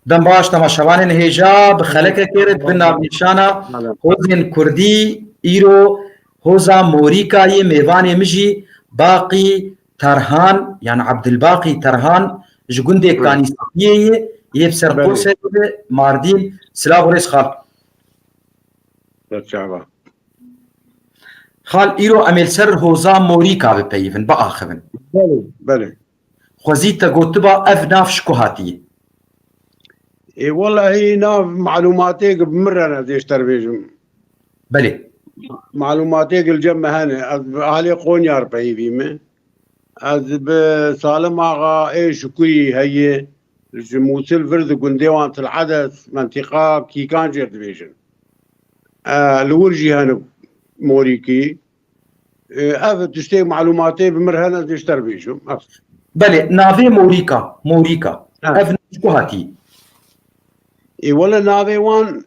Dem baş temaşevanê nihêja bi xelekekê re bi navnîşana Hozên Kurdî îro Hoza Morîka yê mêvanê min jî Baqî Terhan yan Ebdulbaqî Terhan ji gundê Kanîsepiyê yê yê bi ser Qoserê ve Mardîn. Silav û rêz xal. Berçava. Xal îro em ê li ser Hoza Morîka bipeyivin, biaxivin. Belê, belê. Xwezî te gotiba ev nav ji ku hatiye? Ê welahî nav malûmatê ki bi min re ne dê ji te re bêjim. Belê. Malûmatê ki li cem me hene ez bi alê Qonya re peyivî me. Ez bi Salim Axa ê Şukurî heye ji Mûsil vir di gundê wan Til Edes mentîqa Kîkan jê re dibêjin. Li wir jî hene morîkî. Ev tiştê malûmatê bi mir hene dê ji te re bêjim. Belê navê Morîka Morîka ev ji ku hatî? Ê wele navê wan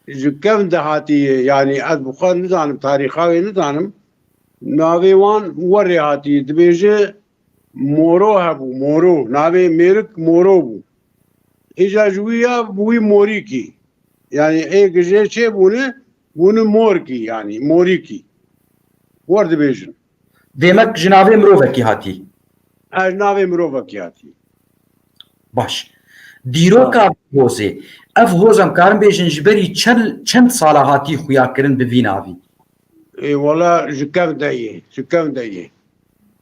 ji kevn de hatî ye yanî ez bi xwe nizanim tarîxa wê nizanim. Navê wan werê hatî dibêje Moro hebû Moro navê mêrik Moro bû. Hêja ji wî ya bi wî morîkî. Yani ê gijê çê bûne bûni morkî yani morîkî. War dibêjin. Demek ji navê mirovekî hatî. Ez navê mirovekî hatî. Baş. Dîroka hozê. Ev hoz em karin bêjin ji berî çend sala hatî xuyakirin bi vî navî? Ê wala ji kevn de yê. Ji kevn de yê.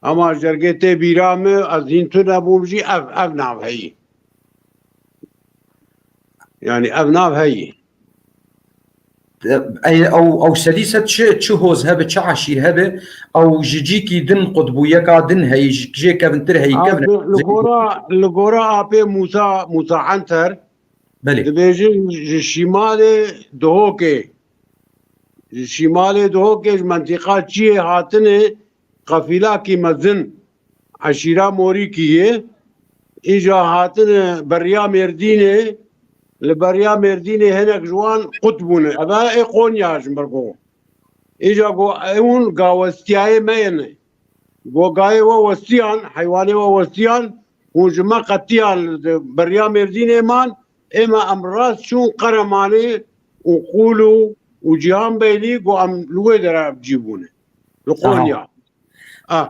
Ama jergê tê bîra me ez hîn tu nebûm jî ev ev nav heyî. Yani ev nav heyî. Ew ew sedî sed çi çi hoz hebe çi eşîr hebe ew ji cîkî din qutbûyeka din heyî ji jê kevintir heyî kevin. Li gora li gora apê Musa Musa Enter Belê. Dibêjin ji şîmalê dihokê. Ji şîmalê dihokê ji mentîqa çiyê hatine qefîlakî mezin eşîra morîkî yê. Îja hatine beriya Mêrdînê. Li beriya Mêrdînê hinek ji wan qut bûne. Eve ê Qonya ji ber ku îja ku ewn gawestiyayê me yên. Gogayê we westiyan, heywanê we westiyan, hûn ji me qetiyan beriya Mêrdînê man, ê me em rast çûn Qeremanê û Qûlû û Cîhanbeylî ku em li wê dere cî bûne. Li Qonya. A.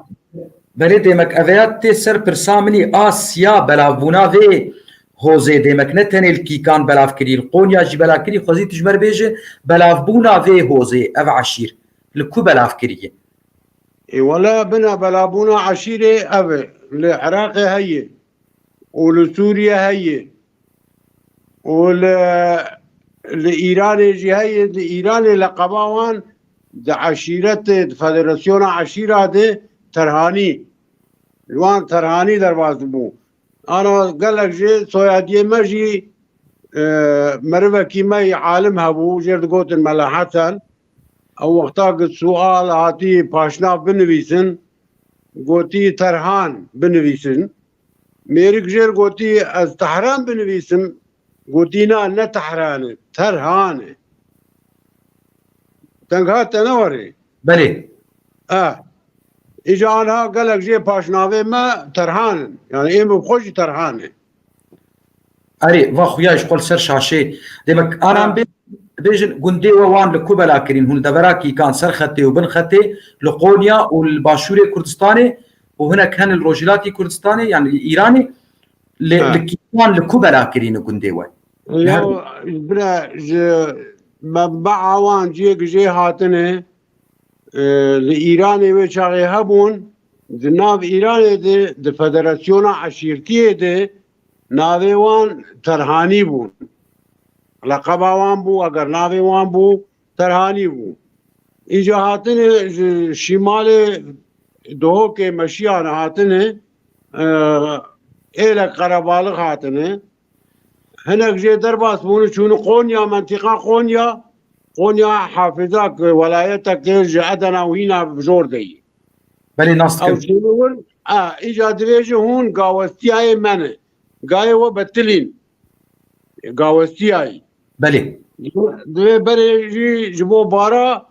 Belê demek ev ya tê ser pirsa min î a siya belavbûna vê hozê demek ne tenê li kîkan belav kirî li Qonya jî bela kirî xwezî tu ji me re bêje belavbûna vê hozê ev eşîr li ku belav kirî ye. Ê wele bina belabûna eşîrê ev e. Li Iraqê heye û li Sûriyê heye û li li Îranê jî heye. Di Îranê leqeba wan di eşîretê di federasyona eşîra de terhanî li wan terhanî derbas dibû. Ana gelek jî soyadiyê me jî merivekî me yî alim hebû jêr digotin Mela Hesen. Ew wexta ki sual hatî paşnav binivîsin gotî Terhan binivîsin. Mêrik jêr gotî ez Tehran binivîsim gotî na ne Tehran e Terhan e. Tengha te ne warê. Belê. Eh. Îca anha gelek jê paşnavê me terhan in. Yani êm û xwe jî terhan in. Erê, va xuya ji xwe ser şaşê. Dê me anan bê bêjin gundê we wan li ku bela kirîn hûn devera kîkan ser xetê û bin xetê li Qonya û li başûrê Kurdistanê û hinek hene li Rojhilatî Kurdistanê yan li Îranê lê li kîkan li ku bela kirîn gundê we. Yo bire ji mebba awan ciyê ki jê hatine li Îranê wê çaxê hebûn di nav Îranê de di federasyona eşîrtiyê de navê wan terhanî bûn. Leqeba wan bû eger navê wan bû terhanî bû. Înca hatine ji şîmalê dohokê meşiyane hatine êlek qerebalix hatine. Hinek jê derbas bûn û çûn Qonya, mentîqa Qonya, Qonya Hafiza ki welayete ki ji Edena û hîna jor de yî. Belê nas dikim. Ew çûn wir, a, îca divê ji hûn gawestiyayê me ne. Gayê we betilîn. Gawestiyayî. Belê. Divê berê jî ji bo bara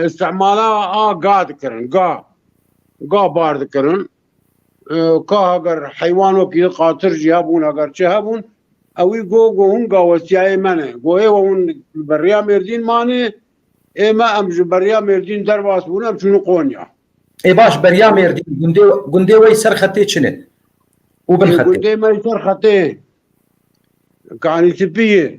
istimala a ga dikirin. Ga. Ga bar dikirin. Ka heger heywan wekî qatir jî hebûn heger çi hebûn ew wî go go hûn gawestiyayê me ne. Go ê we hûn li beriya Mêrdîn manê ê me em ji beriya Mêrdîn derbas bûn em çûnû Konya. Ê baş beriya Mêrdîn gundê gundê wey ser xetê çi ne? Û bin xetê. Gundê me ser xetê Kanîtipiyê.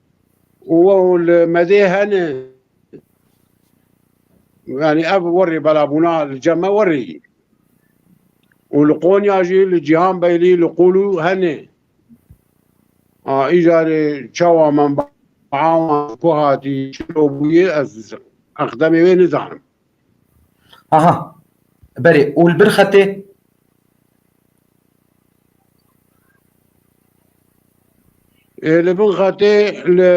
û li medê hene yani ev werî belabûna li cem me werî yî û li Qonya jî li Cîhan Beylî li Qûlû hene a îcarê çawa min awan ku hatî çi bûyê ez eqdemê wê nizanim. Aha. Berê û li bir xetê Ê li bin xetê li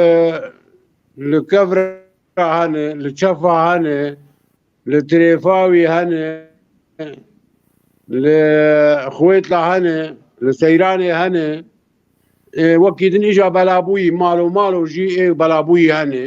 li kevra hene, li çefa hene, li tirêfa wî hene, li xwêtla hene, li seyranê hene. Ê wekî din îja belabûyî mal û mal û jî ê belabûyî hene.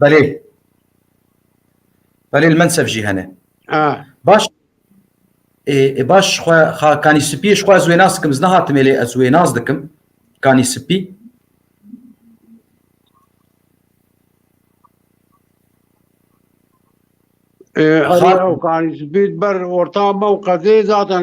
Belê. Belê li Mensef jî hene. Baş baş xwe xa kanî spî ji xwe ez wê nas dikim ez nehatime lê ez wê nas dikim kanî spî Kanî spî ber orta me û qedê zaten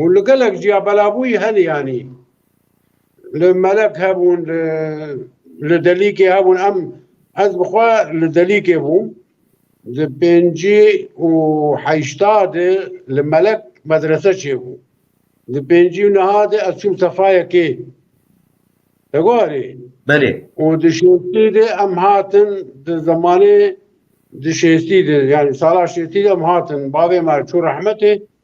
Û li gelek jî ya belavûyî hene yanî li melek hebûn li delîkê hebûn em ez bi xwe li delîkê bûm di pêncî û heyşta de li melek medrese çêbû di pêncî û niha de ez çûm sefayekê Hewarê Belê. û di şêstî de em hatin di zemanê di şêstî de yanî sala şêstî de em hatin bavê me çû rehmetê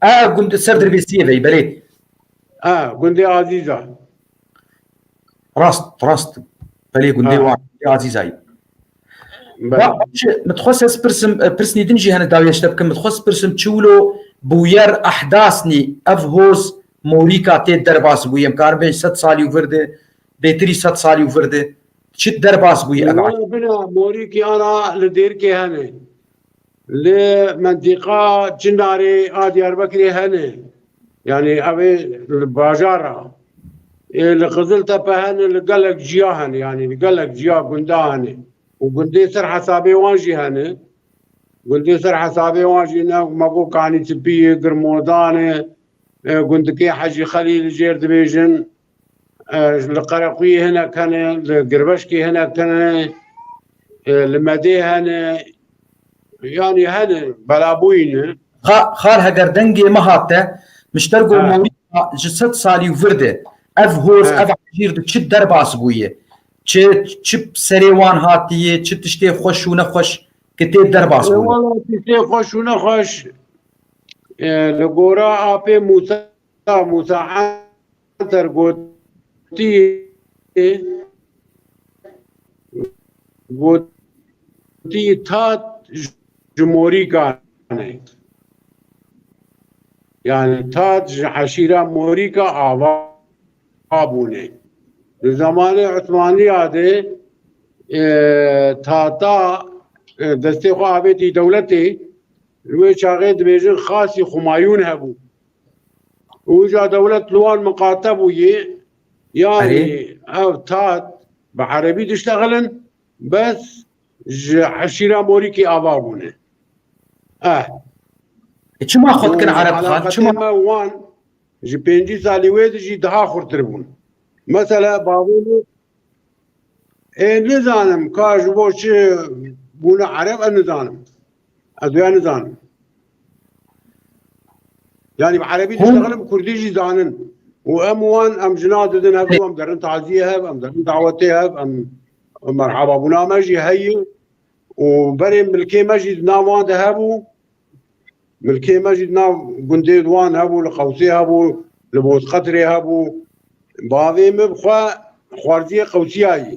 A gund ser derbêsiyê vey belê. A gundê Azîza. Rast rast. Belê gundê wan Azîzayî. Min dixwe se spirsim pirsnî din jî hene dawî eşte bikim. Min dixwe spirsim çiwlo bûyer ehdasnî ev hoz morîka tê derbas bûyî. Em karin bêjin sed salî û vir di bêtirî sed salî û vir di çi derbas bûyî. Morîkî ara li dêrkê hene. Li mentiqa Çinarê a Diyarbekirê hene. Yanî ew ê li bajar a. Ê li Qiziltepe hene li gelek ciya hene yanî li gelek ciya gunda hene û gundê ser hesabê wan jî hene. Gundê ser hesabê wan jî ne me got Kanîtipî ye, Girmodan e, gundikê Hecî Xelîl jêr dibêjin. Li Qerequyê hinek hene, li Girveşkê hinek hene, li Medê hene. Yanî hene, belabûyî ne. Xal heger dengê me hat te, Mişter go Mawlîda ji sed salî û vir de ev hor, ev hejîr di çi derbas bûye, çi çi bi serê wan hatiye, çi tiştê xweş û nexweş kitê derbas bûye? Wala tiştê xweş û nexweş li gora apê Mûsa. Mela Musa Anter gotiye gotiye tat ji morîkan e. Yani tat ji eşîra morîka ava bûne. Di zamanê Osmaniya de e, tata e, destê xwe avêtî dewletê li wê çaxê dibêjin xasî Xumayûn hebû. Uca dewlet li wan miqate bû yê yanî ev tat bi erebî diştexilin bes ji eşîra morîkê ava bûne. Eh. E çima xwe dikin ereb xan? Çima me wan ji pêncî salî wê di jî daha xurtir bûn. Mesela bavê ê nizanim ka ji bo çi bûne ereb em nizanim. Ez wê nizanim. Yani bi Erebî diştexilim Kurdî jî zanin. û em wan em jina didin hev em derin taziyê hev em derin dawetê hev em merhaba bûna me jî heye û berê milkê me jî nav wan de hebû milkê me jî nav gundê wan hebû li qewsê hebû li bozqetirê hebû bavê min xwe xwarziyê qewsiyayî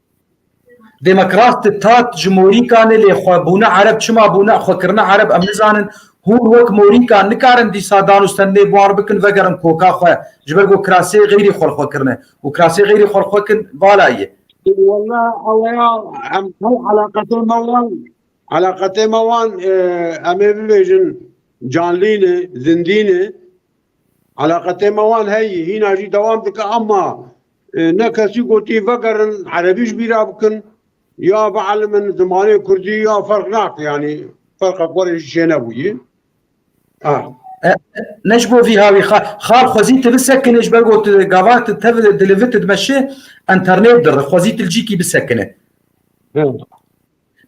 Demokrat tat ji morîkanê lê xwe bûne ereb çima bûne xwe kirine ereb em nizanin hûn wek morîkan nikarin dîsa dan û stendê buar bikin vegerin koka xwe ji ber ku kirasê xeyrî xwe li xwe kirine û kirasê xeyrî xwe li xwe kin vala ye. Walla eweya em her eleqetê me wan eleqetê me wan e, em ê bibêjin canlîne zindîne eleqetê me wan heyî hîna jî dewam dike ama Ne kesî gotî vegerin erebî ji bîra bikin ya bielimin zimanê kurdî ya ferq nake yanî ferqek werê jî çênebûyî. Ne ji bo vî ha wî xal xwezî tu bisekine ji ber ku tu gava tu tev di li vi tu dimeşi enternêt dir xwezî tu li cî kî bisekine.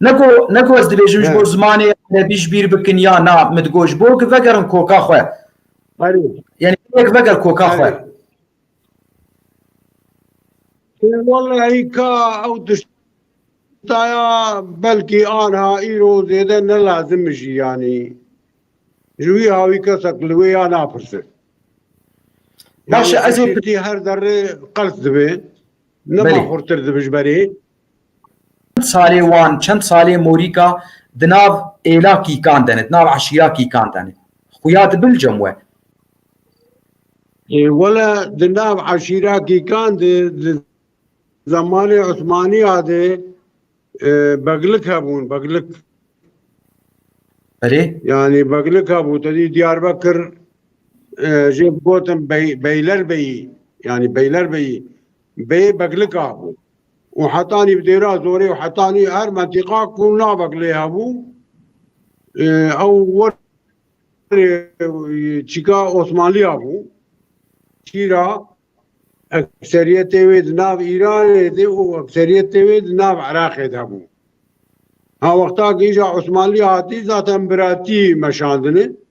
Ne ku ne ku ez dibêjim ji bo zimanê erebî ji bîr bikin ya na min digot ji bo ku vegerin koka xwe. Erê. Yanî tu yek veger koka xwe. Walaî ka ew tiştaya belkî anha îro zêde ne lazim jî yanî ji wî hawî kesek li wê ya napirse. Baş ez her derê qels dibê. Nema xurtir dibijberê. Çend salê wan, çend salê morîka di nav êla kîkan de ne, di nav eşîra kîkan de ne. Xuya dibilcem we. Wele di nav eşîra kîkan de di zamanê Osmaniya de beglik hebûn, beglik. Belê. Yani beglik hebû. Tedî Diyarbekir jê gotin Beylerbeyî yani Beylerbeyî bê beglik hebû. û heta nîv dêra zorê û heta nîv her mentîqa ku navek lê hebû ew wer çîka Osmanliya bû çîra ekseriyetê wê di nav Îranê de û ekseriyetê wê di nav Iraqê de bû. Ha wexta kîja Osmanlî hatî zaten biratî meşandine.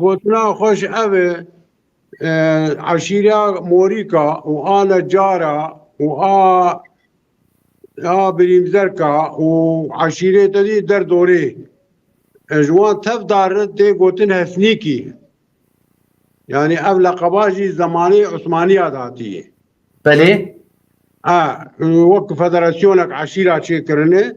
Gotina xwe ji ev e, eşîreya Morîka û a necara û a a birîmzerka û eşîrê te dî der dorê. Ji wan tev darin tê gotin Hesnîkî. Yani ev leqeba jî zemanê Osmaniya de hatiyê. Belê. A, wek federasyoneke eşîra çêkirine.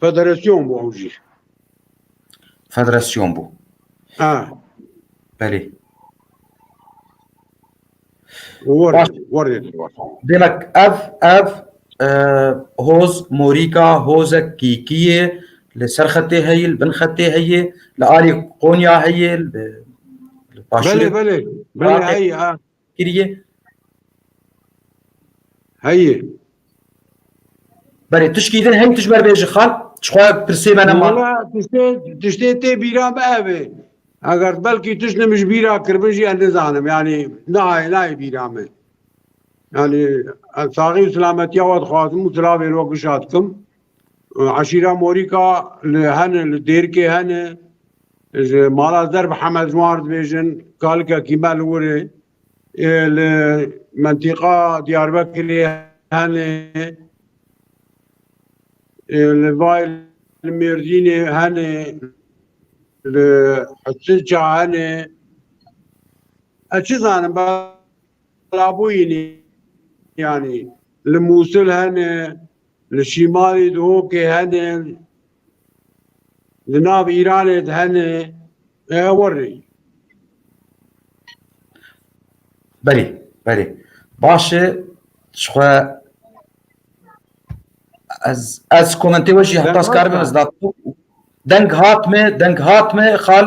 Federasyon bû ew jî. Federasyon bû. Ha. Belê. Warê, warê. Demek ev ev e, hoz morîka hozek kîkiyê li ser xetê heyê li bin xetê heyê li alî Konya heyê li Belê, belê. Belê, ay, kiriye. Heye. Berê tu şkîdin heng tu ji ber bêji xal çixwe pirsê me nema. Valla tiştê tiştê tê bîra me ev e. Eger belkî tu ji min ji bîra kiribin jî ez nizanim yanî nayê nayê bîra me. Yanî ez saxî û silametiya we dixwazim û silavê wek bişa dikim. Eşîra Morîka li hene li Dêrkê hene ji mala Zerb Hemed ji wan re dibêjin kalikekî me li wir e. Li mentîqa Diyarbekirê hene li vay li Mêrdînê hene li Hisilça hene ez çi zanim belabûyînî yanî li Mûsil hene Li Şîmalê dihokê hene, li nav Îranê de hene, e werî. Berî, berî. Baş e, ji xwe ez ez komentê we jî heta ez karibim ez deng hat me, deng hat me xal